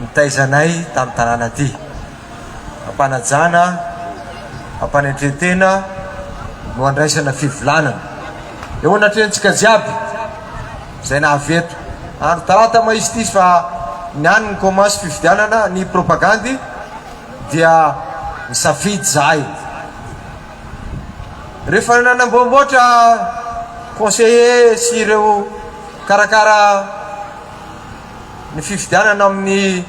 nitaiza anay tamin'ny tanàna ity. Am-panajana, am-panetren-tena no andraisana fivolanana. Eo anatrehantsika jiaby izay nahavy eto. Andro talata mahisy ity izy fa ny any ny koma sy fifidianana ny propagandy dia nisafidy izahay. Rehefa nanamboamboatra conseillers sy ireo mikarakara. Ny fifidianana amin'ny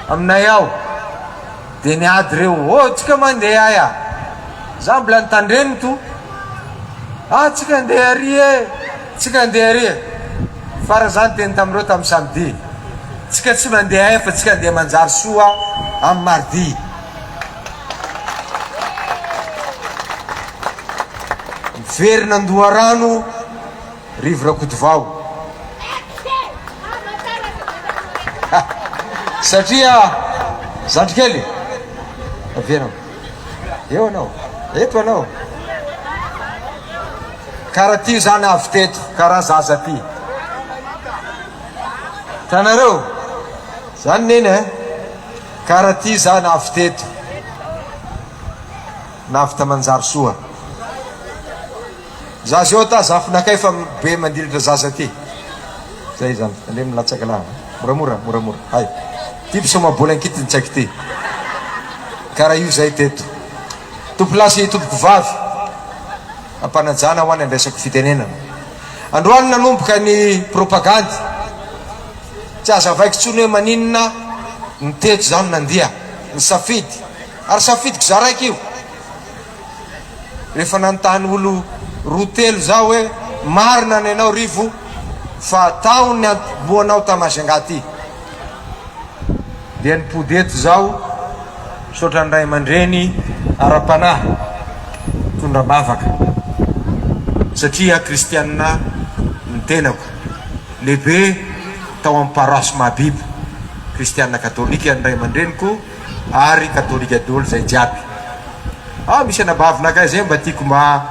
aminay ao dia ny ady reo oh tsika mandeha ay ah za mbola nitandreny to ah tsika andeha ary e tsika andeha ary e farany za niteny tamin'ireo tamin'ny samedi tsika tsy mandeha ay fa tsika andeha manjary soa amin'ny mardi miverina an-doharano Rivo Rakotovao. Satria zandry kely avy anao. Eo anao. Eto anao. Kara ty zany avy teto, kara zaza ty. Tanareo. Zany neny eh. Kara ty zany avy teto. Navita manjary soa. Za zao ta zafinakay fa be mandilitra zaza ty zay zany aleo milatsaka lah moramora moramora hay ty mpisoma bola ankitin tsaiky ty kara io zay teto tompo lahy sy tompoko vavy ampanajana ho any andraisako fitenenana androany nanomboka ny propagandy tsy azavaiko tsony hoe maninona ny teto zany nandia ny safidy ary safidiko za raiky io rehefa nanontany olo roa telo za hoe marina ny anao Rivo fa tao ny antombohanao ta Majunga ty dia nipody eto zaho misaotra ny ray aman-dreny ara-panahy mitondra am-bavaka satria kristianina ny tenako lehibe tao amin'ny paroasy Mahabibo kristianina katolika ny ray aman-dreniko ary katolika dolo zay jiaby ao misy anabavy lakay zay mba tiko mba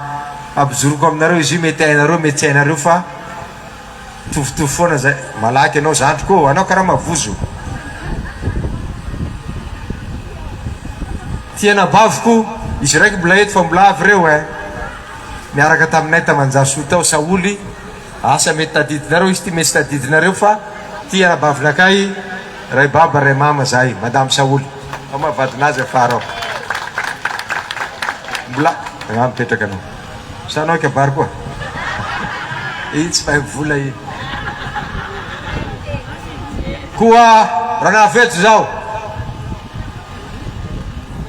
ampijoroko aminareo izy io mety hainareo mety tsy hainareo fa mitovitovy foana zay malaky anao zandriko anao karama vozo ty anabaviko izy raiky mbola eto fa mbola avy reo eh miaraka taminay tamanjasoa tao saholy Asa mety tadidinareo izy ty mety tsy tadidinareo fa ty arabavinakay ray baba ray mama zahay madame saholy fa maha vadinazy afara ao mbola raha mipetraka anao sa anao kabary koa iny tsy mahay mivola iny koa raha nahavejo zao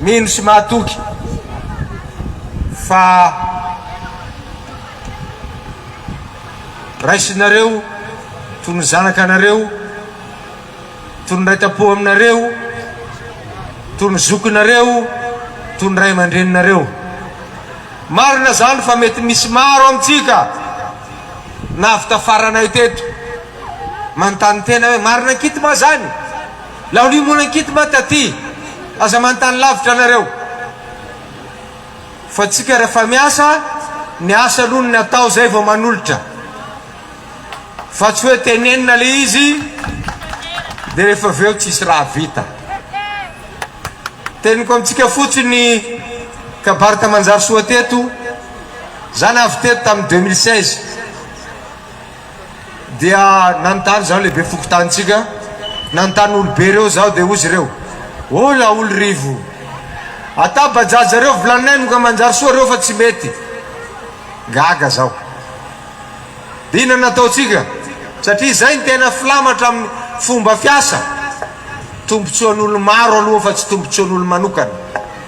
mino sy mahatoky fa Raisinareo toy ny zanakanareo, toy ny raitampo aminareo, toy ny zokinareo, toy ny ray aman-dreninareo. Marina izany fa mety misy maro amintsika nahavita faranay teto manontany tena hoe marina ankity moa izany? Laolia moana ankity moa taty? Aza manontany lavitra nareo. Fa tsika refa miasa ny asa aloha ny atao zay vao manolotra fa tsy hoe tenenina le izy de refa avy eo tsisy raha vita teniko amitsika fotsiny kabary tamanjarisoa teto za navy teto tamin'ny deux mille seize Dia nanontany izaho lehibe fokontanintsika, nanontany olobe ireo izaho, dia hoy izy ireo, Oh laolo Rivo, atabajaja ireo vilaninay no ka manjary soa ireo fa tsy mety. Gaga izaho. Dia inona no nataontsika? Satria izay no tena filamatra amin'ny fomba fiasa, tombontsoan'olo-maro aloha fa tsy tombontsoan'olo-manokana.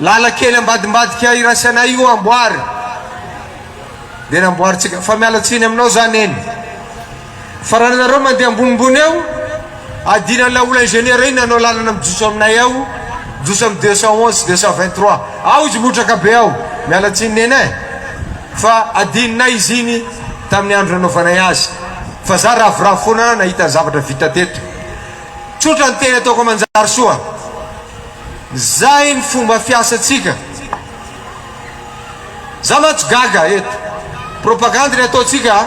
Lalan-kely ambadimbadika iraisana io amboary dia namboarintsika fa miala tsiny aminao za neny fa raha nareo mandeha ambonimbony eo adino an'ilay olona ingénieur iny nanao lalana mijotso aminay ao mijotso amin'ny deux cent onze sy deux cent vingt trois ao izy motraka be ao miala tsiny neny eh fa adinonay izy iny tamin'ny andro nanaovanay azy fa za ravoravo foana nahita ny zavatra vita teto tsotra ny teny ataoko amanjarisoa Zay ny fomba fiasantsika. Za mantsy gaga eto. Propagandy ny ataontsika a.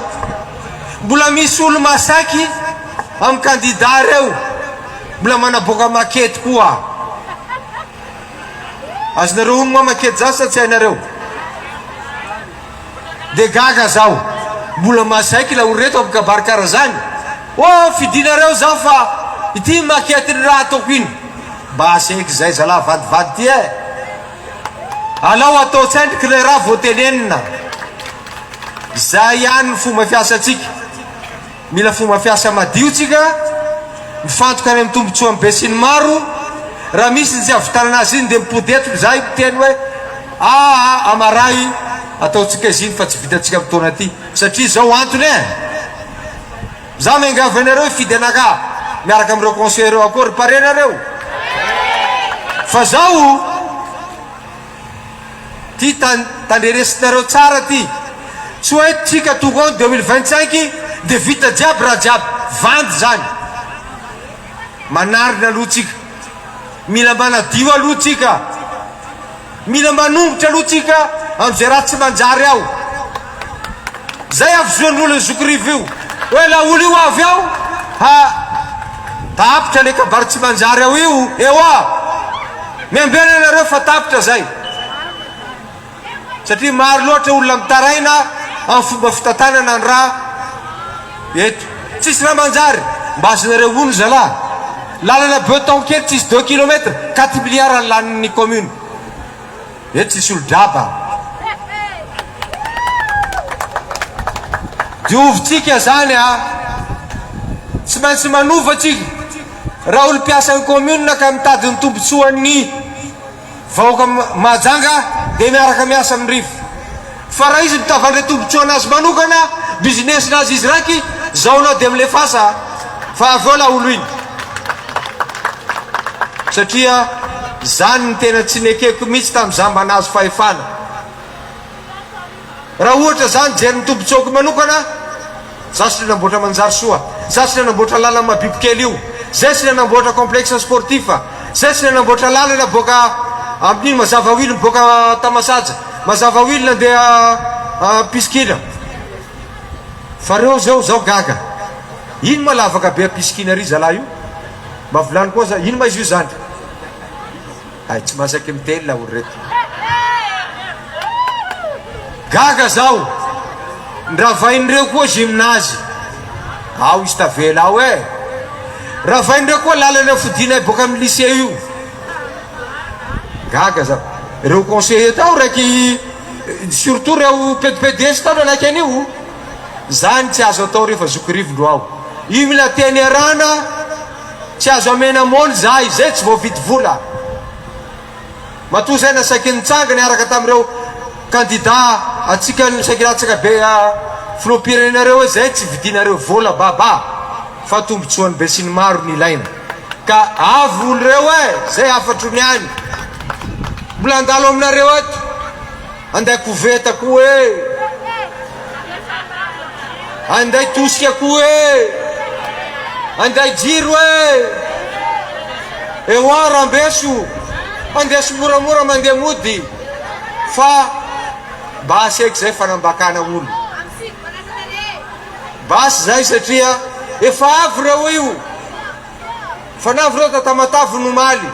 Mbola misy olo masaky am kandida reo mbola manaboaka makety koa. Azonareo ono moa makety za sa tsy hainareo. Dia gaga zaho. Mbola mahasaiky ilay olona reto mpikabary kara zany. Oh fidinareo zaho fa ity maquette ny raha ataoko iny. Mba asehiko izay zalahy vadivady ity eh. Alao atao tsendriky ilay raha vao tenenina. Izay ihany ny fomba fiasantsika. Mila fomba fiasa madio tsika, mifantoka any amin'ny tombotsoan'ny besinimaro, raha misy ny tsy avitanana azy iny dia mipody eto izahay miteny hoe aa amaray ataontsika izy iny fa tsy vitantsika amin'ny taona ity satria izao antony e! Za miangavy anareo hifidy anaka miaraka amin'ireo conseillers akory pare nareo fa zao Ty tandreresinareo tsara ty, tsy hoe tsika tonga ao deux mille vingt cinq de vita jiaby raha jiaby, vandy zany, manarina aloha tsika, mila manadio aloha tsika, mila manongotra aloha tsika amizay raha tsy manjary ao. Zay havozoan'olo ny zokirivo io. Hoe la olo io avy ao ha tapitra le kabary tsy manjary ao io ewa. Miambena anareo fa tapitra zay. Satria maro loatra olona mitaraina am fomba fitantanana ny ra eto. Tsisy ra manjary. Mba azonareo ono zalah. Lalana beton kely tsisy deux kilomètre, quatre milliards ny lanin'ny commune. Eto tsy solo-draba. Diovintsika izany a! Tsy maintsy manova tsika raha olom-piasan'ny commune ka mitady ny tombotsoan'ny vahoaka Mahajanga dia miaraka miasa amin'ny rivo. Fa raha izy mitavandre tombotsoa anazy manokana business nazy izy raky zao anao de milefasa fa avy eo laolo iny satria zany ny tena tsy nekeko mitsy tam zamba nazo fahefana raha ohatra zany jeriny tombotsoako manokana Zaho sy le namboatra manjary soa, zaho sy le namboatra lalan'i Mabibokely io, zay sy le namboatra complexe sportif, zay sy le namboatra lalana boaka amin'iny Mazava Will miboaka Tamasaja, Mazava Will nandeha Pisikina. Fa reo zao zaho gaga. Ino ma lavaka be à Pisikina ry zalahy io? Mba volano koa za, ino ma izy io zany? Hay tsy masaky miteny laolo reto. Gaga zaho! Ndravain'ireo koa gymnase ao izy tavela ao eh! Ravain'ireo koa lalana fodianay boaka amin'ny lycée io. Gaga zaho! Ireo conseiller tao raiky surtout ireo PDPDS tao nanaiky an'io. Zany tsy azo atao rehefa zoky rivondro ao. Io mila teny arahana. Tsy azo amena mony za izay tsy voavidy vola. Matoa zay nasaky nitsanga niaraka tamin'ireo kandida antsika nisakilatsaka be filoham-pirenena reo hoe zay tsy vidinareo vola baba fa tombotsoan'ny besinimaro no ilaina ka avy olo reo e zay hafatro ny any mbola andalo aminareo eto. Anday koveta koa e! Anday tosika koa e! Anday jiro e! Ewa rambeso, andeso moramora mandeha mody fa basy eky zay fanambakana olo. Basy zay satria efa avy reo io. Fanavo reta Tamatave no omaly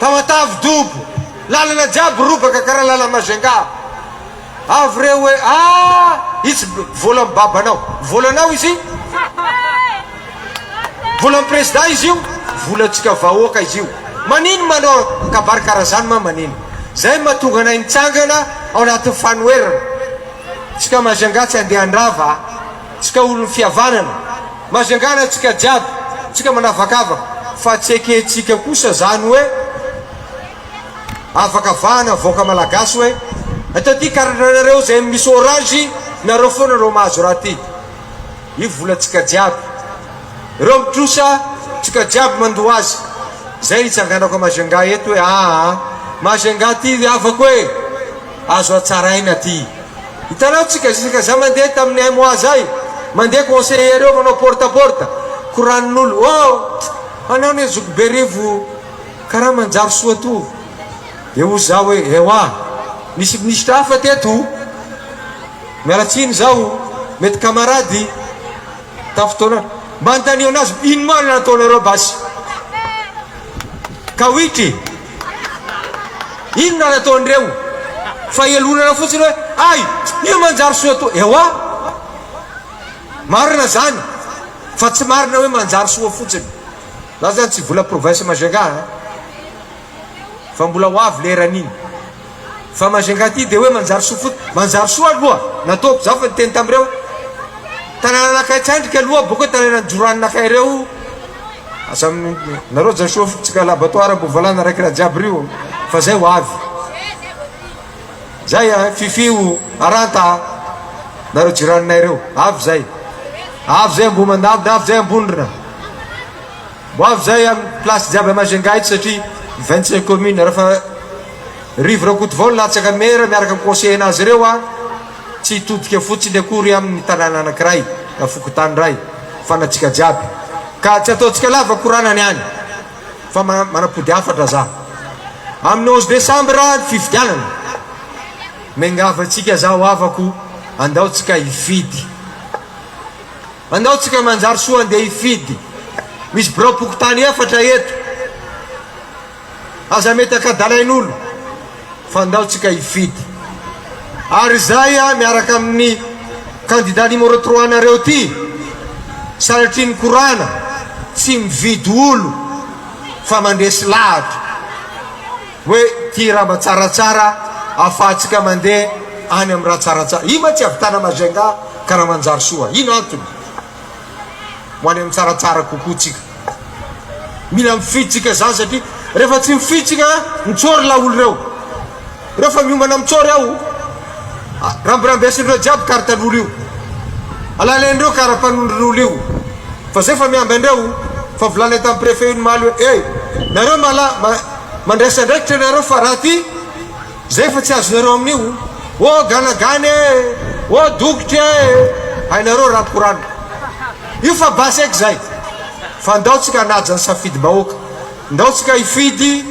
Tamatave dobo Lalana jiaby robaka karaha lala Majunga Avy re hoe ah itsy vola am babanao Volanao izy Volam president izy io Vola tsika vahoaka izy io Manino manao kabary karaha zany ma manino Zay ma tonga anay mitsangana ao anaty fanoherana Tsika Majunga tsy andeha andrava a. Tsika olon'ny fihavanana, mazangana tsika jiaby, tsika manavakavaka, fa tsy ekentsika kosa zany hoe avaka vahana vahoaka malagasy hoe eto aty karananareo zay misy orange nareo foana no mahazo raha ty io vola tsika jiaby reo mitrosa tsika jiaby mandoa azy zay itsanganako a Majunga eto hoe aa Majunga ty havako e Azo hatsaraina ty. Hitanao tsy gazisaka za mandeha tamin'ny un mois zay mandeha conseiller reo manao porte à porte koranin'olo oh anao anie zoky berivo karaha manjary soa to de hoy za hoe ewa misy ministra hafa teto miala tsiny zaho mety kamarady tamin'ny fotoana mba anontanio anazy ino ma no nataonareo basy ka witry Inona ary ataon'ireo? Fahelonana fotsiny hoe ay! Io manjary soa toa. Ewa! Marina zany fa tsy marina hoe manjary soa fotsiny. Za zany tsy vola province Majunga a! Fa mbola ho avy leran'iny. Fa Majunga aty dia hoe manjary soa fotsiny. Manjary soa aloha nataoko za fa niteny tamin'ireo tanànanakay tsandrika aloha boko hoe tanànan'ny joranonakay ireo. Aza nareo aza soa fotsika laboratoire mbo valana raiky raha jiaby rio fa zay ho avy. Zay an, fifio, aranta a! Nareo jiranonay reo, avy zay. Avy zay Ambohimandalina, avy zay Ambondrona. Ho avy zay am place jiaby à Majunga eto satria vingt cinq commune rafa Rivo Rakotovao no latsaka maire miaraka am conseiller nazy ireo a tsy hitodika fotsiny akory am ny tanàna anakiray na fokontany ray fa na tsika jiaby ka tsy ataotsika lava koranana ihany fa manapody hafatra za am ny onze decembre ny fifidianana miangava tsika za ho havako andao tsika hifidy Andao tsika manjary soa andeha hifidy, misy birao pokontany efatra eto, aza metaka dalain'olo fa andao tsika hifidy ary izay a miaraka amin'ny candidat numéro trois nareo ty sanatria ny korana tsy mividy olo fa mandresy lahatra. Hoe ty raha mba tsaratsara afahantsika mandeha any amin'ny raha tsaratsara. Ino ma tsy ahavitana Majunga ka raha manjary soa? Ino antony ho any amin'ny tsaratsara kokoa tsika? Mila mifidy tsika izany satria rehefa tsy mifidy tsika mitsory laolo ireo. Ireo fa miomana mitsory ao. Rambirambesin'ireo jiaby karatan'olo io. Alalen'ireo karapanondron'olo io. Fa zay fa miambandreo fa volanay tamin'ny prefet io ny maly hoe eh nareo mala Mandraisa andraikitra ianareo fa raha ty zay fa tsy azonareo amin'io ô ganagana e ô dokotra e hainareo raha korana io fa basy eky zay fa ndao tsika hanaja ny safidy bahoaka ndao tsika hifidy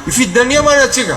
hifidy nania man atsika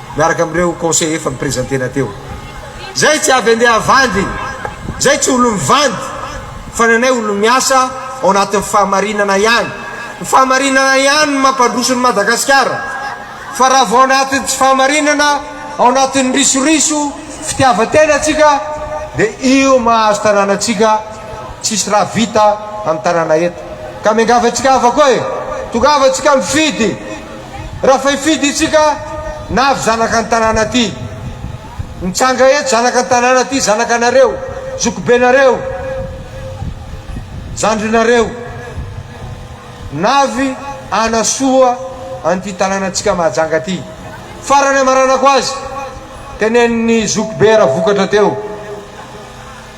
miaraka amin'ireo conseillers efa mi-presenter-na teo. Izay tsy avy andeha havandy, izay tsy olon'ny mivandy, fa ny anay olon'ny miasa ao anatin'ny fahamarinana ihany. Ny fahamarinana ihany no mampandroso ny Madagasikara, fa raha vao anatin'ny tsy fahamarinana, ao anatin'ny risoriso, fitiavan-tena antsika, dia io mahazo tanàna antsika, tsisy raha vita amin'ny tanàna eto. Ka miangavy antsika havako e! Tongava antsika mifidy! Rafaifidy isika na avy zanaka ny tanàna ty. Mitsanga eto zanaka ny tanàna ty zanaka nareo, zokibenareo, zandrinareo. Navy hanasoa an'ity tanànantsika mahajanga ty. Farany amaranako azy, tenenin'ny zokibe ravokatra teo.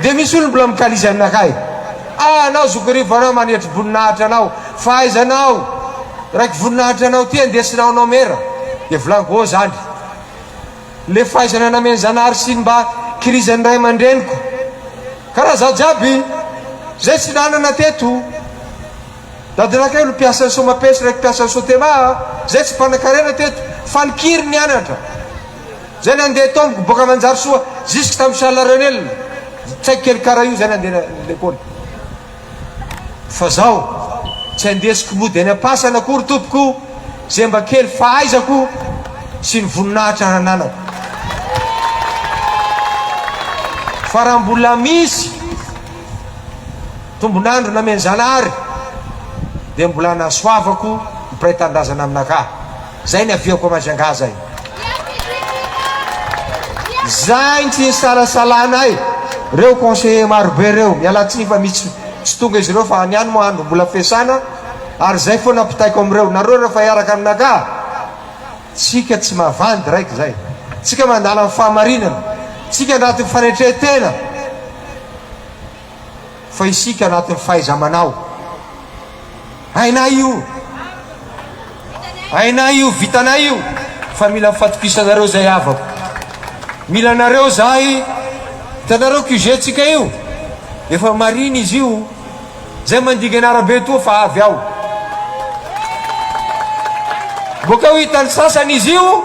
Dia misy olona mbola mikalizy aminakahy. Ah anao zokirivo anao manetry voninahitra anao fa aiza anao raiky voninahitra anao ty andesinao anao mera dia volaniko oh zandry le fahaizana nameny zanahary sy ny mba kirizan'ny ray aman-dreniko ka raha zaho jiaby zay tsy nanana teto Dadinakay no mpiasan'ny Somapes reko mpiasan'ny Sotema a! Zay tsy mpanan-karena teto fa ny kiry nianatra! Zay nandeha tomboko boaka Manjarisoa jusque tamin'ny Charles Renel tsaiky kely kara io zay nandeha lekôly fa zao tsy andesiko mody any am-pasana akory tompoko ze mba kely fahaizako sy ny voninahitra hananako fa raha mbola misy Tombon'andro namen'i Zanahary dia mbola nasoavako ny mpiray tanindrazana aminakà. Izay ny aviako amin'azy angaha izay. Izay ny tsy isalasalana ahy. Ireo conseillers marobe ireo, mialatsiny fa misy tsy tonga izy ireo fa ny any moa andro mbola fiasana ary izay foana ampitaiko amin'ireo. Nareo rehefa hiaraka aminakà, tsika tsy mavandy raiky izay. Tsika mandala ny fahamarinana. Tsika andrato ny fanetren-tena. fa isika anatin'ny fahaiza-manao. Hainay io. Hainay io, vitanay io fa mila ny fatokisanareo izay havako. Mila anareo izahay. Hitanareo QG-tsika io? Efa marine izy io. Izay mandigana arabe toa fa avy ao. Boka ho hitan'ny sasany izy io.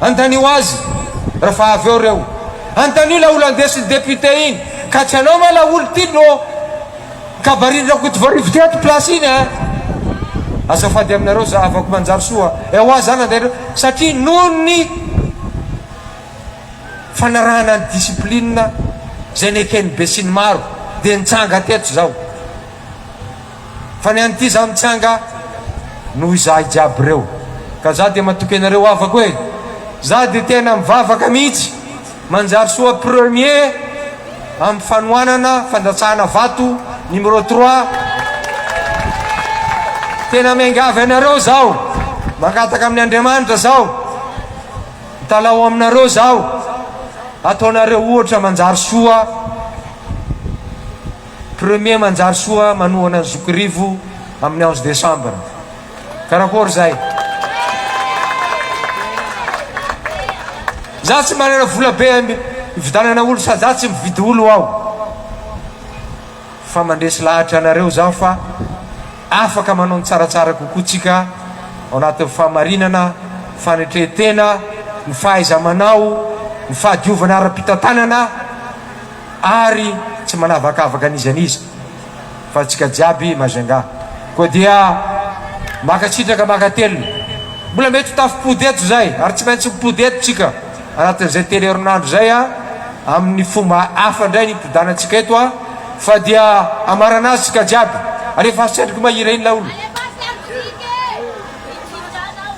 Andanio azy refa avy eo reo. Andanio ilay olo andesin'ny député iny ka tsy anao ma ilay olo ty no kabarin Rakotovarivo ty ato place iny a! Azafady aminareo zahavako manjary soa ewa zany andainareo satria noho ny fanarahana ny discipline izay neken'ny besinimaro dia nitsanga teto zao. Fa ny an'ity za mitsanga noho izahay jiaby reo ka za dia matoky anareo havako e! Za dia tena mivavaka mihitsy manjary soa premier amin'ny fanohanana fandatsahana vato numéro trois tena miangavy anareo zaho mangataka amin'ny Andriamanitra zaho mitalaho aminareo zaho ataonareo ohatra manjary soa Premier manjary soa manohana ny zokirivo amin'ny onze décembre. Karakory zay? Za tsy manana vola be hividanana olo sady za tsy mividy olo aho fa mandresy lahatra anareo zaho fa afaka manao ny tsaratsara kokoa tsika ao anatin'ny fahamarinana, fanetrehan-tena, ny fahaiza-manao, ny fahadiovana ara-pitantanana. Ary tsy manavakavaka an'iza an'iza fa antsika jiaby Majunga. Koa dia mankasitraka mankatelina. Mbola mety ho tafimpody eto izay ary tsy maintsy mipody eto tsika anatin'izay telo herinandro izay a! amin'ny fomba hafa indray ny hipodanantsika eto a! fa dia hamarana azy tsika jiaby. Alefaso tsy andriko mahirein laolo.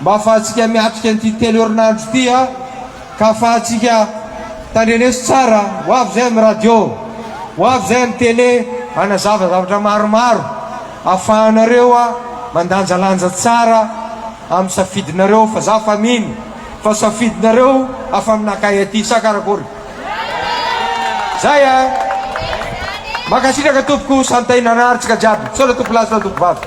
Mba afahantsika miatrika an'ity telo herinandro ity a! Ka afahantsika tandreneso tsara, ho avy izay amin'ny radio, ho avy izay amin'ny télé hanazava zavatra maromaro afahanareo mandanjalanja tsara amin'ny safidinareo fa za fa mino fa safidinareo afa-minakay aty sa karakory? Zay a! Mankasitraka tompoko, santainanartsika jiaby, misaotra tompolahy sy tompoko vavy.